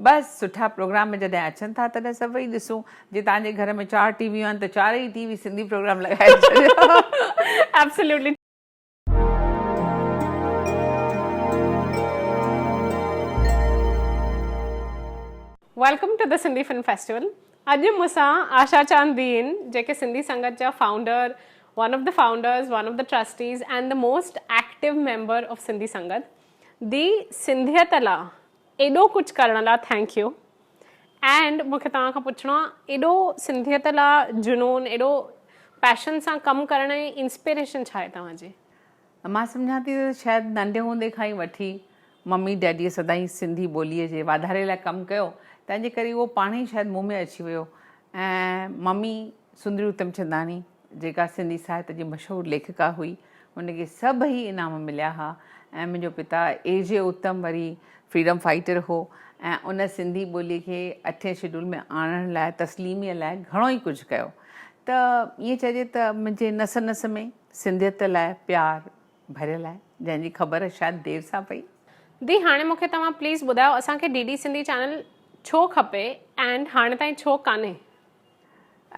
بس سٺا پروگرام جڏهن اچن ٿا تڏهن سڀ ويهي ڏسون جي تهان جي گهر ۾ چار ٽي ويون آهن ته چارئي ٽي وي سنڌي پروگرام لڳائي ڇڏيو welcome to the Sindhi film festival اڄ مون سان آشا چاند به آهن جيڪي سنڌي سنگت جا founder one of the founders one of the trustees and the most active member of Sindhi Sangat the سنڌيت لا ايڏو ڪجھ ڪرڻ لا ٿينڪ يو اينڊ مونکي توهان کان پڇڻو آ ايڏو سنڌيت لا جنون ايڏو پيشن سان ڪم ڪرڻ جي انسپيريشن ڇا آهي توهان جي؟ مان سمجهان ٿي ته شايد ننڍي هوندي کان ئي وٺي ممي ڊيڊيء سدائين سنڌي ٻوليء جي واڌاري لاء ڪم ڪيو تنهنجي ڪري اهو پاڻهي شايد مون ۾ اچي ويو ۽ ممي سندري اتم چنداڻي، جيڪا سنڌي ساهت جي مشهور ليکڪا هئي، ان کي سڀئي انعام مليا ها ۽ منهنجو پتا اي جي اتم وري فريڊم فائيٽر هو ۽ ان سنڌي ٻولي کي اٺين شيڊول ۾ آڻڻ لاء تسليميء لاء گهڻو ئي ڪجهه ڪيو ته ائين چئجي ته منهنجي نس نس ۾ سنڌيت لاء پيار ڀريل آهي جنهن جي خبر شايد دير سان پئي. دي هاڻي مونکي توهان پليز ٻڌايو اسان کي ڊي ڊي سنڌي چينل ڇو کپي اينڊ هاڻي تائين ڇو ڪانهي.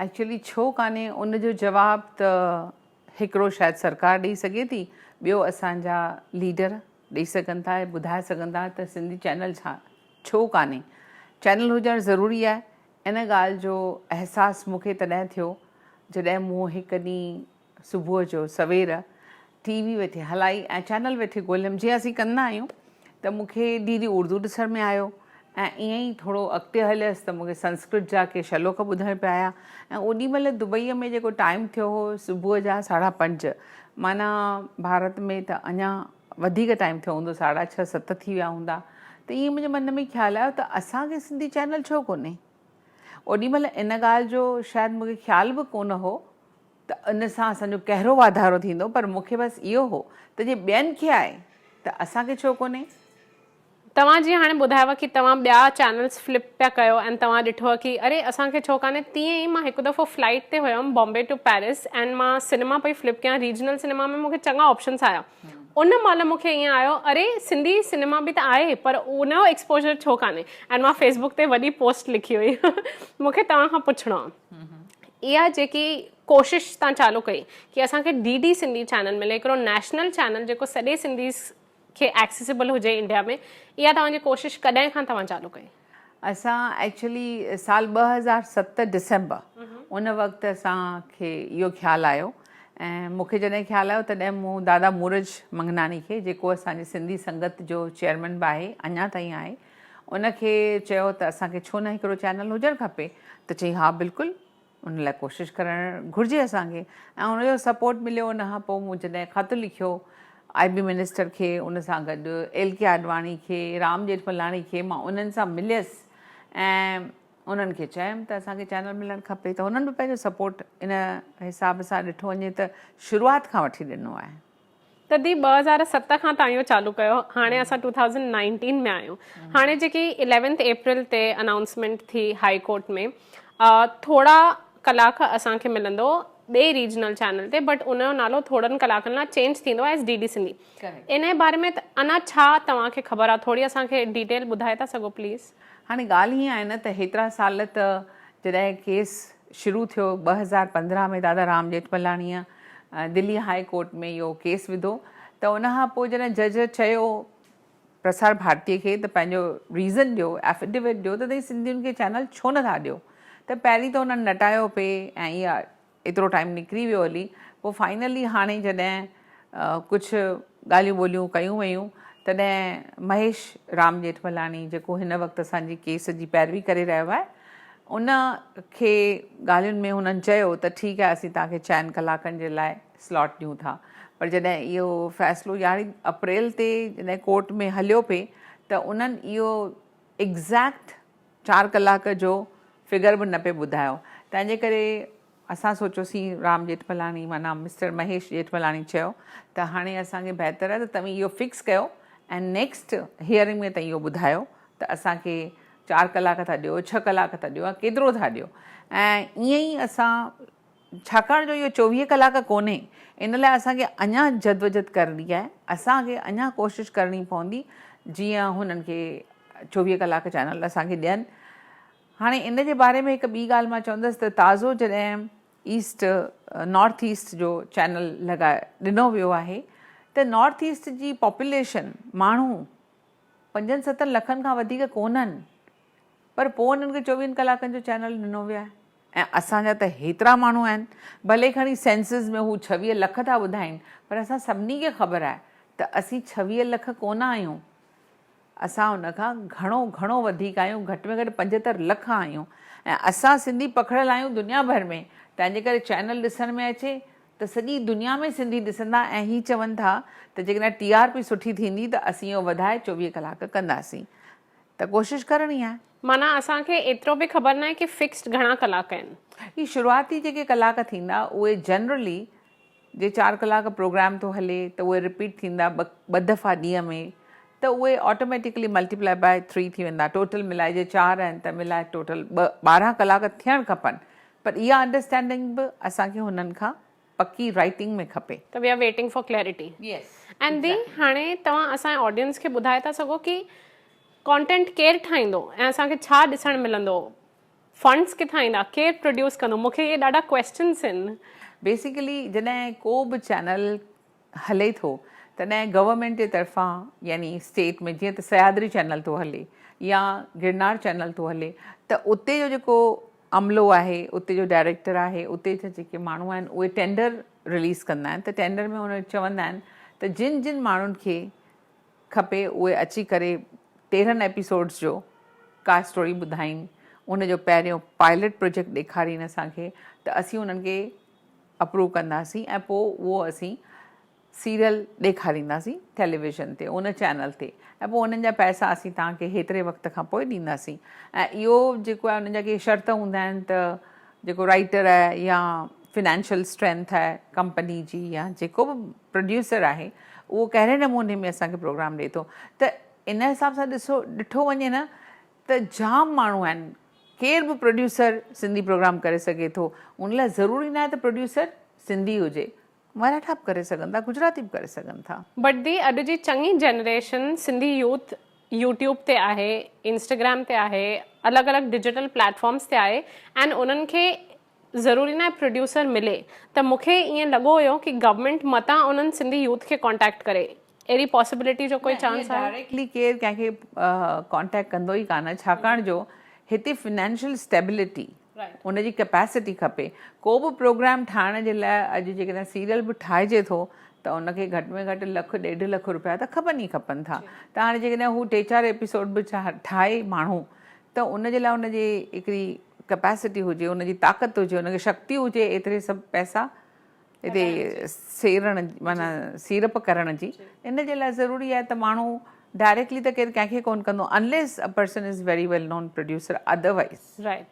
ايڪچوئلي ڇو ڪانهي ان جو جواب ته هڪڙو شايد سرڪار ڏئي سگهي ٿي ٻيو اسان جا ليڊر ڏئي سگهن ٿا ۽ ٻڌائي سگهن ٿا ته سنڌي چينل ڇا ڇو ڪانهي چينل هجڻ ضروري آهي ان ڳالهه جو احساس مون کي تڏهن ٿيو جڏهن مون هڪ ڏينهن صبح جو سوير ٽي وي ويٺي هلائي ۽ چينل ويٺي ڳوليم جيئن اسين ڪندا آهيون ته مون کي ڊي ڊي اردو ڏسڻ ۾ آيو ۽ ائين ئي ٿورو اڳتي هليس ته مون کي سنسڪرت جا ڪي شلوڪ ٻڌڻ پيا آيا ۽ اوڏي مهل دبئي ۾ جيڪو ٽائيم ٿيو هو صبح جا ساڍا پنج معنيٰ ڀارت ۾ ته اڃا وڌيڪ ٽائيم ٿيو هوندو ساڍا ڇهه ست ٿي ويا هوندا ته ائين منهنجي من ۾ خيال آيو ته اسان کي سنڌي چينل ڇو ڪونهي اوڏي مهل ان ڳالهه جو شايد مون کي خيال به ڪونه هو ته ان سان اسان جو ڪهرو واڌارو ٿيندو پر مون کي بس اهو هو ته جي ٻين کي آهي ته اسان کي ڇو ڪونهي. توهان جيئن هاڻي ٻڌايو ڪي توهان ٻيا چينلز فلپ پيا ڪيو ۽ توهان ڏٺو ڪي اري اسان کي ڇو ڪانهي تيئن ئي مان هڪ دفعو فلائيٽ تي هيم بامبي ٽو پيرس ۽ مان سينما پئي فلپ ڪيان ريجنل سينما ۾ مون کي چڱا آپشنس آيا ان مهل مون کي ائين آيو اري سنڌي سينما به ته آهي پر ان جو ايڪسپوزر ڇو ڪانهي ۽ مان فيسبوڪ تي وڏي پوسٽ لکي هئي مون کي توهان کان پڇڻو آ. اها جيڪي ڪوشش تان چالو ڪئي ڪي اسان کي ڊي ڊي سنڌي چينل ملي هڪڙو نيشنل چينل جيڪو سڏي سنڌيز کي ايڪسيسيبل هجي انڊيا ۾ اها توهان جي ڪوشش ڪڏهن کان توهان چالو ڪئي. اسان ايڪچولي سال ٻه هزار ست ڊسمبر ان وقت اسان کي اهو خيال آيو ۽ مون کي جڏهن خيال آيو تڏهن مون دادا مورج منگناڻي کي جيڪو اسان جي سنڌي سنگت جو چيئرمين به آهي اڃا تائين آهي ان کي چيو ته اسان کي ڇو نه هڪڙو چينل هجڻ کپي ته چيائين ها بلڪل ان لاء ڪوشش ڪرڻ گهرجي اسان کي ۽ ان جو سپورٽ مليو ان کان پوء مون جڏهن خط لکيو آئي بي منسٽر کي ان سان گڏ ايل ڪي آڏواڻي کي رام ڄيٺملاڻي کي مان انهن سان مليس ۽ انهن کي چيم ته اسان کي چينل ملڻ کپي ته انهن به پنهنجو سپورٽ ان حساب سان ڏٺو وڃي ته شروعات کان وٺي ڏنو آهي تدي ٻه هزار ست کان تان اهو چالو ڪيو هاڻي اسان ٽو ٿائوزنڊ نائنٽين ۾ آهيون هاڻي جيڪي اليونٿ اپريل تي انائونسمينٽ ٿي هائي ڪورٽ ۾ ٿورا ڪلاڪ اسان کي ملندو ٻئي ريجنل چينل تي بٽ ان جو نالو ٿورن ڪلاڪن لاء چينج ٿيندو ايز ڊي ڊي سنڌي ان جي باري ۾ انا ڇا توهان کي خبر آهي ٿوري اسان کي ڊيٽيل ٻڌائي ٿا سگهو پليز. هاڻي ڳالهه هيئن آهي نه ته هيترا سال ته جڏهن ڪيس شروع ٿيو ٻه هزار پندرهن ۾ دادا رام ڄيٺملاڻيء دلي هاء ڪورٽ ۾ اهو ڪيس وڌو ته ان کان پوء جڏهن جج چيو پرسار ڀارتي کي ته پنهنجو ريزن ڏيو ائفيڊيوٽ ڏيو ته تهين سنڌين کي چينل ڇو نه ٿا ڏيو ته پهرين ته هنن نٽايو پئي ۽ ايترو ٽائيم نڪري ويو هلي پوء فائنلي هاڻي جڏهن ڪجهه ڳالهيون ٻولهيون ڪيون ويون تڏهن مهيش رام ڄيٺملاڻي جيڪو هن وقت اسان جي ڪيس جي پيروي ڪري رهيو آهي ان کي ڳالهين ۾ هنن چيو ته ٺيڪ آهي اسين توهان کي چئن ڪلاڪن جي لاء سلاٽ ڏيون ٿا پر جڏهن اهو فيصلو يارهين اپريل تي جڏهن ڪورٽ ۾ هليو پئي ته انهن اهو ايگزيڪٽ چار ڪلاڪ جو فگر به نه پئي ٻڌايو تنهنجي ڪري اسان سوچيوسين رام ڄيٺملاڻي معنيٰ مسٽر مهيش ڄيٺملاڻي چيو ته هاڻي اسان کي بهتر آهي ته توهين اهو فڪس ڪيو ۽ نيڪسٽ هيئرنگ ۾ توهين اهو ٻڌايو ته اسان کي چار ڪلاڪ ٿا ڏيو ڇهه ڪلاڪ ٿا ڏيو يا ڪيترو ٿا ڏيو ۽ ائين ئي اسان ڇاڪاڻ جو اهو چوويهه ڪلاڪ ڪونهي ان لاء اسان کي اڃا جدوجھد ڪرڻي آهي اسان کي اڃا ڪوشش ڪرڻي پوندي جيئن هنن کي چوويهه ڪلاڪ چينل اسان کي ڏين هاڻي ان جي باري ۾ هڪ ٻي ڳالهه مان چوندس ته تازو جڏهن ايسٽ نارٿ ايسٽ جو چينل لڳا ڏنو ويو آهي ته نارٿ ايسٽ جي پاپوليشن ماڻهو پنجن ستن لکن کان وڌيڪ ڪونهن پر پوء انهن کي چوويهن ڪلاڪن جو چينل ڏنو ويو آهي ۽ اسان جا ته هيترا ماڻهو آهن ڀلي کڻي سينسز ۾ هو ڇويهه لک ٿا ٻڌائين پر اسان سڀني کي خبر آهي ته اسين ڇويهه لک ڪونه آهيون. اسان ان کان گهڻو گهڻو وڌيڪ آهيون، گهٽ ۾ گهٽ پنجهتر لک آهيون ۽ اسان سنڌي پکڙيل آهيون دنيا ڀر ۾ تنهنجي ڪري چينل ڏسڻ ۾ اچي ته سڄي دنيا ۾ سنڌي ڏسندا ۽ هي چون ٿا ته جيڪڏهن ٽي آر پي سٺي ٿيندي ته اسين اهو وڌائي چوويهه ڪلاڪ ڪنداسين ته ڪوشش ڪرڻي آهي. معنيٰ اسان کي ايترو به خبر ناهي ڪي فڪسڊ گهڻا ڪلاڪ آهن. هي شروعاتي جيڪي ڪلاڪ ٿيندا اهي جنرلي جي چار ڪلاڪ پروگرام ٿو هلي ته اهي رپيٽ ٿيندا ٻه دفعا ڏينهن ۾ ته اهي آٽوميٽيڪلي ملٽيپلائي باء ٿري ٿي ويندا ٽوٽل ملائي جي چار آهن ته ملائي ٽوٽل ٻارهن ڪلاڪ ٿيڻ کپن پر اها انڊرسٽينڊنگ به اسان کي هنن کان پڪي رائيٽنگ ۾ کپي. ته we are waiting for clarity and the هاڻي توهان اسانجي آڊينس کي ٻڌائي ٿا سگهو ڪي ڪانٽينٽ ڪير ٺاهيندو ۽ اسان کي ڇا ڏسڻ ملندو. فنڊس ڪٿان ايندا ڪير پروڊيوس ڪندو مون کي اهي ڏاڍا ڪويسچنس آهن. بيسيڪلي جڏهن ڪو به چينل هلي ٿو تڏهن گورنمينٽ جي طرفان يعني اسٽيٽ ۾ جيئن ته سهيادري چينل ٿو هلي يا گرنار چينل ٿو هلي ته اتي جو جيڪو عملو آهي اتي جو ڊائريڪٽر آهي اتي جا جيڪي ماڻهو آهن اهي ٽينڊر رليز ڪندا آهن ته ٽينڊر ۾ هن چوندا آهن ته جن جن ماڻهن کي کپي اهي اچي ڪري تيرهن ايپيسوڊس جو ڪا اسٽوري ٻڌائين ان جو پهريون پائلٽ پروجيڪٽ ڏيکارين اسان کي ته اسين انهن کي اپروو ڪنداسين ۽ پوء اهو اسين سيريل ڏيکارينداسين ٽيليويزن تي ان چينل تي ۽ پوء انهن جا پئسا اسين توهان کي هيتري وقت کان پوء ڏينداسين ۽ اهو جيڪو آهي انهن جا ڪي شرط هوندا آهن ته جيڪو رائٽر آهي يا فنانشل اسٽرينٿ آهي ڪمپني جي يا جيڪو به پروڊيوسر آهي اهو ڪهڙي نموني ۾ اسان کي پروگرام ڏئي ٿو ته ان حساب سان ڏسو ڏٺو وڃي نه ته جام ماڻهو آهن ڪير به پروڊيوسر سنڌي پروگرام ڪري سگهي ٿو ان لاء ضروري ناهي ته پروڊيوسر سنڌي هجي مراٺا به ڪري سگهن ٿا گجراتي به ڪري سگهن ٿا. بٽ دي اڄ جي چڱي جنريشن سنڌي يوٿ يوٽيوب تي آهي انسٽاگرام تي آهي الڳ الڳ ڊجيٽل پليٽ فارمس تي آهي اينڊ انهن کي ضروري ناهي پروڊيوسر ملي ته مون کي ائين لڳو هيو ڪي گورنمينٽ متان انهن سنڌي يوٿ کي ڪانٽيڪٽ ڪري اهڙي پاسيبلٽي جو ڪوئي چانس آهي؟ ڊائريڪٽلي ڪير ڪنهن کي ڪانٽيڪٽ ڪندو ئي ڪانه ڇاڪاڻ جو هتي فنانشل اسٽيبلٽي ان جي ڪيپيسٽي کپي ڪو به پروگرام ٺاهڻ جي لاء اڄ جيڪڏهن سيريل به ٺاهجي ٿو ته ان کي گهٽ ۾ گهٽ لک ڏيڍ لک روپيا ته کپن ئي کپن ٿا ته هاڻي جيڪڏهن هو ٽي چار ايپيسوڊ به ٺاهي ماڻهو ته ان جي لاء ان جي هڪڙي ڪپيسٽي هجي، ان جي طاقت هجي، ان کي شڪتي هجي ايتري سڀ پئسا هتي سيرڻ معنيٰ سيڙپ ڪرڻ جي. ان جي لاء ضروري آهي ته ماڻهو ڊائريڪٽلي ته ڪير ڪنهن کي ڪونه ڪندو unless a person is very well known producer otherwise. Right.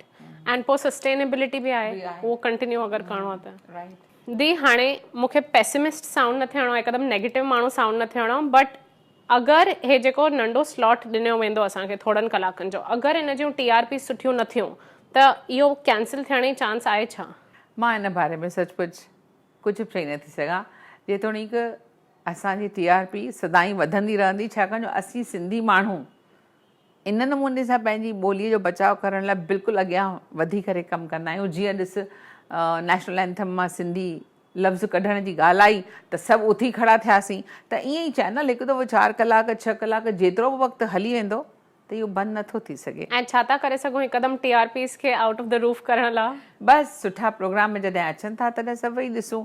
And پوء سسٽينيبلٽي به آهي اهو ڪنٽينيو اگر ڪرڻو آهي ته. Right. دي هاڻي مون کي پيسمسٽ سائونڊ نه ٿيڻو آهي هڪدم نيگيٽو ماڻهو سائونڊ نه ٿيڻو آهي بٽ اگر هي جيڪو ننڍو سلاٽ ڏنو ويندو اسان کي ٿورن ڪلاڪن جو اگر ان جون ٽي آر پيز سٺيون نه ٿيون ته اهو ڪينسل ٿيڻ جي چانس آهي ڇا؟ مان ان باري ۾ سچ پچ ڪجهه به چئي نه ٿي سگهان جيتوڻيڪ اسان جي ٽي آر پي سدائين وڌندي رهندي ڇاڪاڻ جو اسين سنڌي ماڻهو ان نموني سان پنهنجي ٻوليء جو بچاء ڪرڻ لاء بلڪل اڳيان وڌي ڪري ڪم ڪندا آهيون. جيئن ڏس نيشنل اينٿم مان سنڌي لفظ ڪڍڻ جي ڳالهه آئي ته سڀ اٿي کڙا ٿياسين ته ائين ئي چينل هڪ دفعو چار ڪلاڪ ڇهه ڪلاڪ جيترو به وقت هلي ويندو ته اهو بند نه ٿو ٿي سگهي. ۽ ڇا ٿا ڪري سگهون هڪدم ٽي آر پيز کي آئوٽ آف دي روف ڪرڻ لاء؟ بس سٺا پروگرام جڏهن اچن ٿا تڏهن سڀئي ڏسون.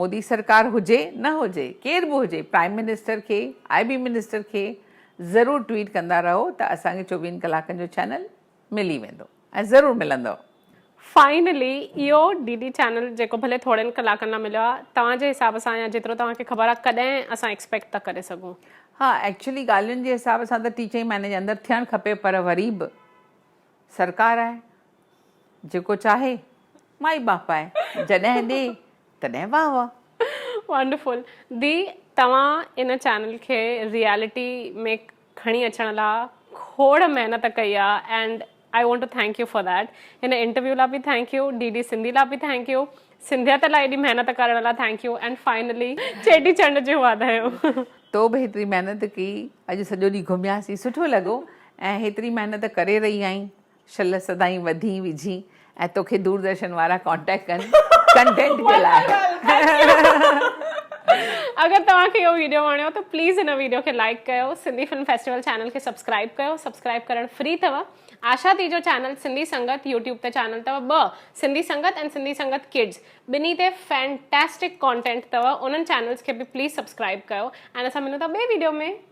مودي سرڪار هجي نه هجي ڪير به هجي پرائيم منسٽر کي آء بي منسٽر کي ضرور ٽويٽ ڪندا رهو ته اسان کي چوويهن ڪلاڪن جو چينل ملي ويندو ۽ ضرور ملندو. فائنلي اهو ڊي ڊي چينل جيڪو ڀلي ٿورن ڪلاڪن لا مليو آ توهان جي حساب سان يا جيترو توهان کي خبر آ ڪڏهن اسان ايڪسپيڪٽ ٿا ڪري سگهون. ها ايڪچولي ڳالهين جي حساب سان ته ٽي چئي مهيني جي اندر ٿيڻ کپي پر وري به. سرڪار آهي جيڪو چاهي مائي ٻاپ آهي جڏهن ڏي تڏهن واهه واهه. Wonderful دي توهان ان چينل کي ريئلٽي ۾ کڻي اچڻ لا کوڙ محنت ڪئي آ and I want to thank you for that هن انٽرويو لا به thank you D D Sindhi لا به ٿينڪ يو سنڌيت لا ايڏي محنت ڪرڻ لا thank you and finally Cheti Chand جون واڌايون. تو به هيتري محنت ڪئي اڄ سڄو ڏينهن گهمياسين سٺو لڳو ۽ هيتري محنت ڪري رهي آهين شل سدائين وڌي وجهين ۽ توکي دوردرشن وارا ڪانٽيڪٽ ڪن ڪنٽينٽ جي لاء. اگر توهان کي اهو ويڊيو وڻيو ته پليز هن ويڊيو کي لائيڪ ڪيو سنڌي فلم فيسٽيول چينل کي سبسڪرائيب ڪيو سبسڪرائيب ڪرڻ فري ٿو آشا ٿي جو چينل سنڌي سنگت يوٽيوب تي چينل ٿو ٻه سنڌي سنگت ۽ سنڌي سنگت ڪڊز ٻنهي تي فينٽيسٽڪ ڪانٽينٽ ٿو انهن چينلز کي به پليز سبسڪرائيب ڪيو ۽ اسان ملون ٿا ٻي ويڊيو ۾